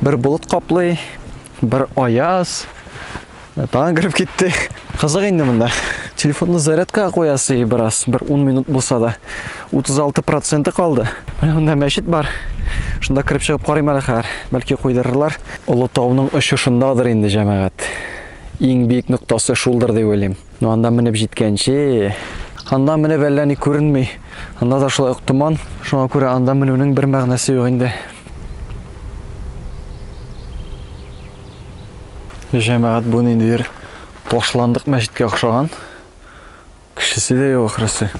Бер болыт каплый, бер аяз. Тагын кереп китте. Кызык инде монда. Телефонны зарядка куясы и бераз, бер 10 минут булса да. 36% калды. Менә монда мәчет бар. Шунда кереп чыгып карыйм әле хәзер. Бәлки куйдырырлар. Олы тауның очышындадыр инде җәмәгать. Иң биек ноктасы шулдыр дип уйлыйм. Ну, анда менеп җиткәнче. Анда менеп әллә ни күренми. Анда да шулай ук томан. Шуңа күрә анда менүнең бер мәгънәсе юк инде. Җәмәгать бу ниндидер ташландык мәчеткә охшаган. Кешесе дә юк ахрысы.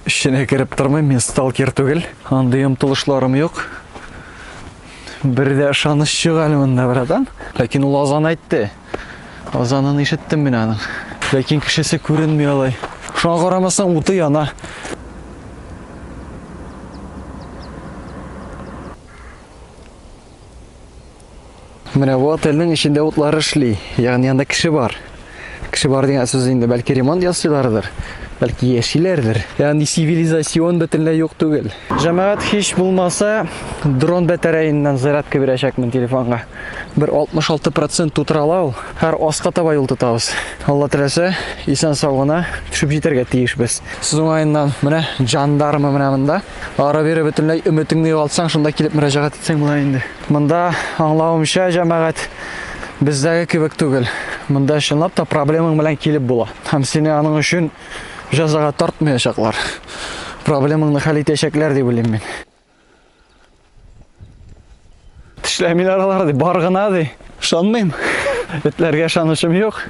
Эченә кереп тормыйм, мин сталкер түгел. Андый омтылышларым юк. Бер дә ышаныч юк әле монда, братан. Ләкин ул азан әйтте. Азанын ишеттем мин аның. Ләкин кешесе күренми алай. Шуңа карамастан уты яна. Менә бу отельнең эчендә утлар эшли, ягъни анда кеше бар. Кеше бар дигән сүз инде, бәлки ремонт ясыйлардыр, бәлки яшиләрдер. Ягъни цивилизацион бөтенләй юк түгел. Җәмәгать һич булмаса, дрон батареясыннан зарядка бирәчәкмен телефонга. Бер 66% тутыра ала ул. Һәр аска таба юл тотабыз. Алла теләсә, исән-сау гына төшеп җитәргә тиешбез. Сүз уңаеннан, менә жандармы менә монда. Ара-бирә бөтенләй өметеңне югалтсаң, шунда килеп мөрәҗәгать итсәң була инде. Монда аңлавымча, җәмәгать бездәге кебек түгел. Монда чынлап та проблемаң белән килеп була. Һәм сине аның өчен җәзага тартмаячаклар. Проблемаңны хәл итәчәкләр дип уйлыйм мин. Тешләмин аралар ди, бар гына ди. Ышанмыйм. Этләргә ышанычым юк.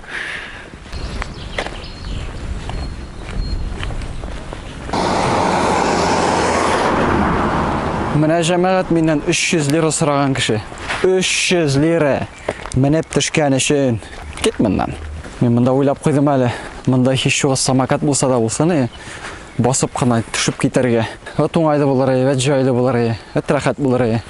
Менә җәмәгать миннән 300 лира сораган кеше. 300 лира менеп төшкән өчен. Кит моннан. Мин монда уйлап куйдым әле. Монда һич югы самокат булса да булсын, Басып кына төшеп китәргә. Вәт уңайлы булыр, вәт җайлы булыр, вәт рәхәт булыр.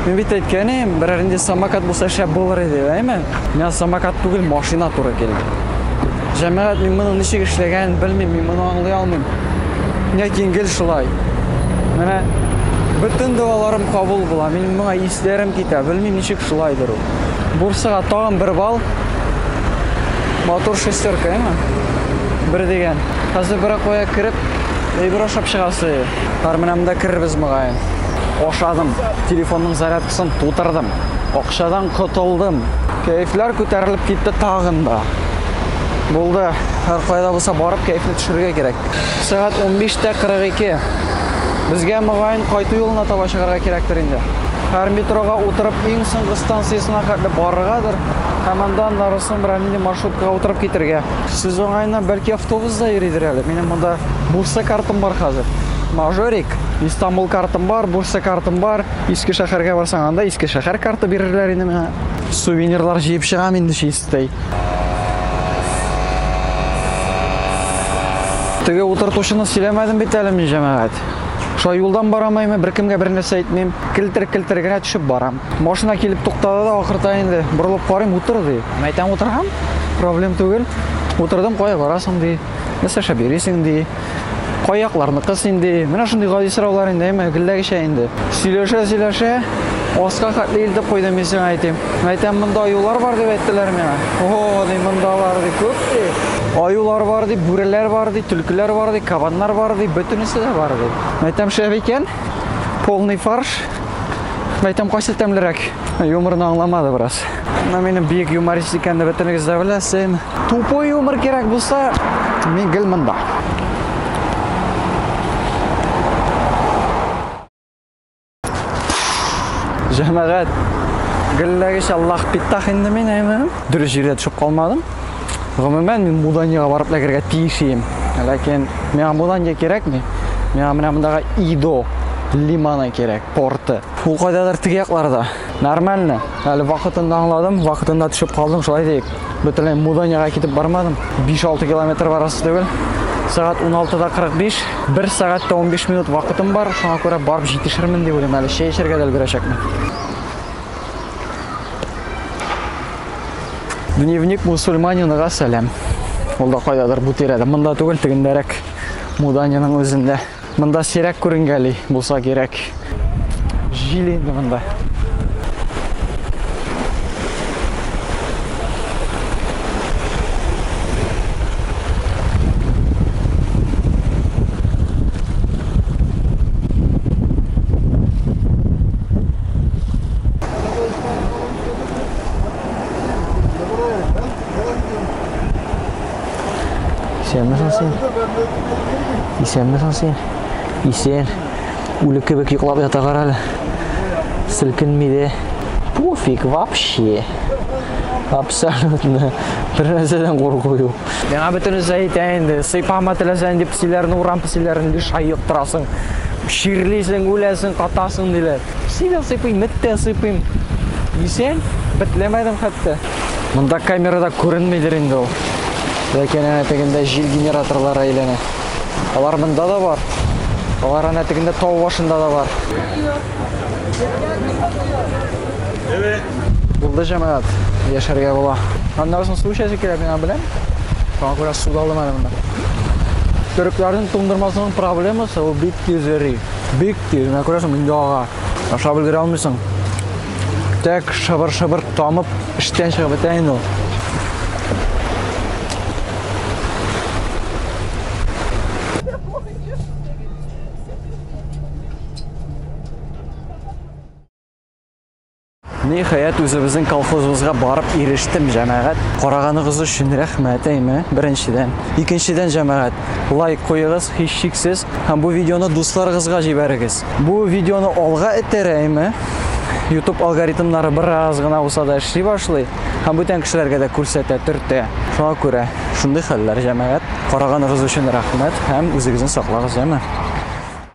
Мин бит әйткән идем, берәр инде самокат булса шәп булыр иде, әйме? Миңа самокат түгел, машина туры килде. Җәмәгать, мин моның ничек эшләгәнен белмим, мин моны аңлый алмыйм. Ләкин гел шулай. Менә бөтен догаларым кабул була, мин моңа исләрем китә, белмим ничек шулайдыр ул. Бурсага тагын бер бал. Мотор шестерка, әйме? Бер дигән. Хәзер бер кая кереп, әйбер ашап чыгасы. Бар менә монда керербез мөгаен. ашадым, телефонның зарядкасын тутырдым, акчадан котылдым. Кәефләр күтәрелеп китте тагын да. Булды, һәр кайда булса барып кәефне төшерергә кирәк. Сәгать 15:42. Безгә мөгаен кайту юлына таба чыгарга кирәктер инде. Һәр метрога утырып иң соңгы станциясенә хәтле барыргадыр, һәм аннан Нарусом Рамини маршруткага утырып китергә. Сез уңаеннан бәлки автобусда йөридер әле. Минем монда Бурса картым бар хәзер. Мажорик, Истанбул картым бар, Бурса картым бар. Иске шәһәргә барсаң, анда Иске шәһәр карты бирерләр инде миңа. Сувенирлар җыеп чыгам инде чистый. Теге утыртучыны сөйләмәдем бит әле мин, җәмәгать. Шулай юлдан барамаймы, беркемгә бер нәрсә әйтмим, келтер-келтер генә төшеп барам. Машина килеп туктады да ахырта инде. Борылып карыйм, утыр ди. Мин әйтәм, утырам, проблем түгел. Утырдым, кая барасың ди. Нәрсә эшләп йөрисең ди. Кай якларныкы син ди. Менә шундый гади сораулар инде, әмма гелләгечә инде. Сөйләшә, сөйләшә, аска хәтле илтеп куйдым мин сиңа әйтим. Мин әйтәм, монда аюлар бар дип әйттеләр миңа. О, ди, мондалар ди, күп ди. Аюлар бар ди, бүреләр бар ди, төлкеләр бар ди, кабаннар бар ди, бөтенесе дә бар ди. Мин әйтәм, шәп икән, полный фарш. Мәйтәм кайсы тәмлерәк? Юморны аңламады бераз. Менә минем биек юморист икәнне бөтенегез дә беләсен. Тупой юмор кирәк булса, мин гел монда. Җәмәгать, гелләгеч Аллах питтах инде мин әйме. Дөрес җирдә төшеп калмадым. Гомумән мин Муданига барып ләгергә тиеш идем. Ләкин миңа Мудания кирәкми. Миңа менә мондагы Идо лиманы кирәк, порты. Ул кайдадыр теге якларда. Нормально. Әле вакытында аңладым, вакытында төшеп калдым, шулай диек. Бөтенләй Муданига китеп бармадым. 5-6 километр барасы түгел. Сәгать 16-да 45, 1 сәгать тә 15 минут вакытым бар. Шуңа күрә барып җитешермен дип уйлыйм. Әле чәй эчәргә дә өлгерәчәкмен. Дневник мусульманинага сәлам. Ул да кайдадыр бу тирәдә. Монда түгел, тегендәрәк Муданиның үзендә. Монда сирәк күренгәли булса кирәк. Җил инде монда. Исәнме соң син? Исән. Үлек кебек йоклап ята кара әле. Селкенми дә. Пуфик вообще. Абсолютно. Бер нәрсәдән курку юк. Миңа бөтенесе әйтә инде, сыйпама теләсәң дип песиләрне, урам песиләрен лишь айыктырасың. Чирлисең, үләсең, катасың диләр. Песи дә сыйпыйм, эт тә сыйпыйм. Дисәм, бетләмәдем хәтта. Монда камерада күренмидер инде ул. Ләкин әнә тегендә җил генераторлары әйләнә. Алар монда да бар. Алар әнә тегендә тау башында да бар. Булды җәмәгать, яшәргә була. Аннан соң су чәче килә, мин аны беләм. Шуңа күрә су да алмадым монда. Төрекләрнең туңдырмасының проблемасы ул бик тиз эри. Бик тиз, менә күрәсең, инде ага. Ашап өлгерә алмыйсың. Тәк шыбыр-шыбыр тамып, эштән чыгып бетә инде ул. Ниһаять үзебезнең колхозыбызга барып ирештем, җәмәгать. Караганыгыз өчен рәхмәт, әйме, беренчедән. Икенчедән, җәмәгать, лайк куегыз, һичшиксез, һәм бу видеоны дусларыгызга җибәрегез. Бу видеоны алга этәрә, әйме. YouTube алгоритмнары бераз гына булса да эшли башлый, һәм бүтән кешеләргә дә күрсәтә, төртә. Шуңа күрә шундый хәлләр, җәмәгать. Караганыгыз өчен рәхмәт һәм үзегезне саклагыз, әйме.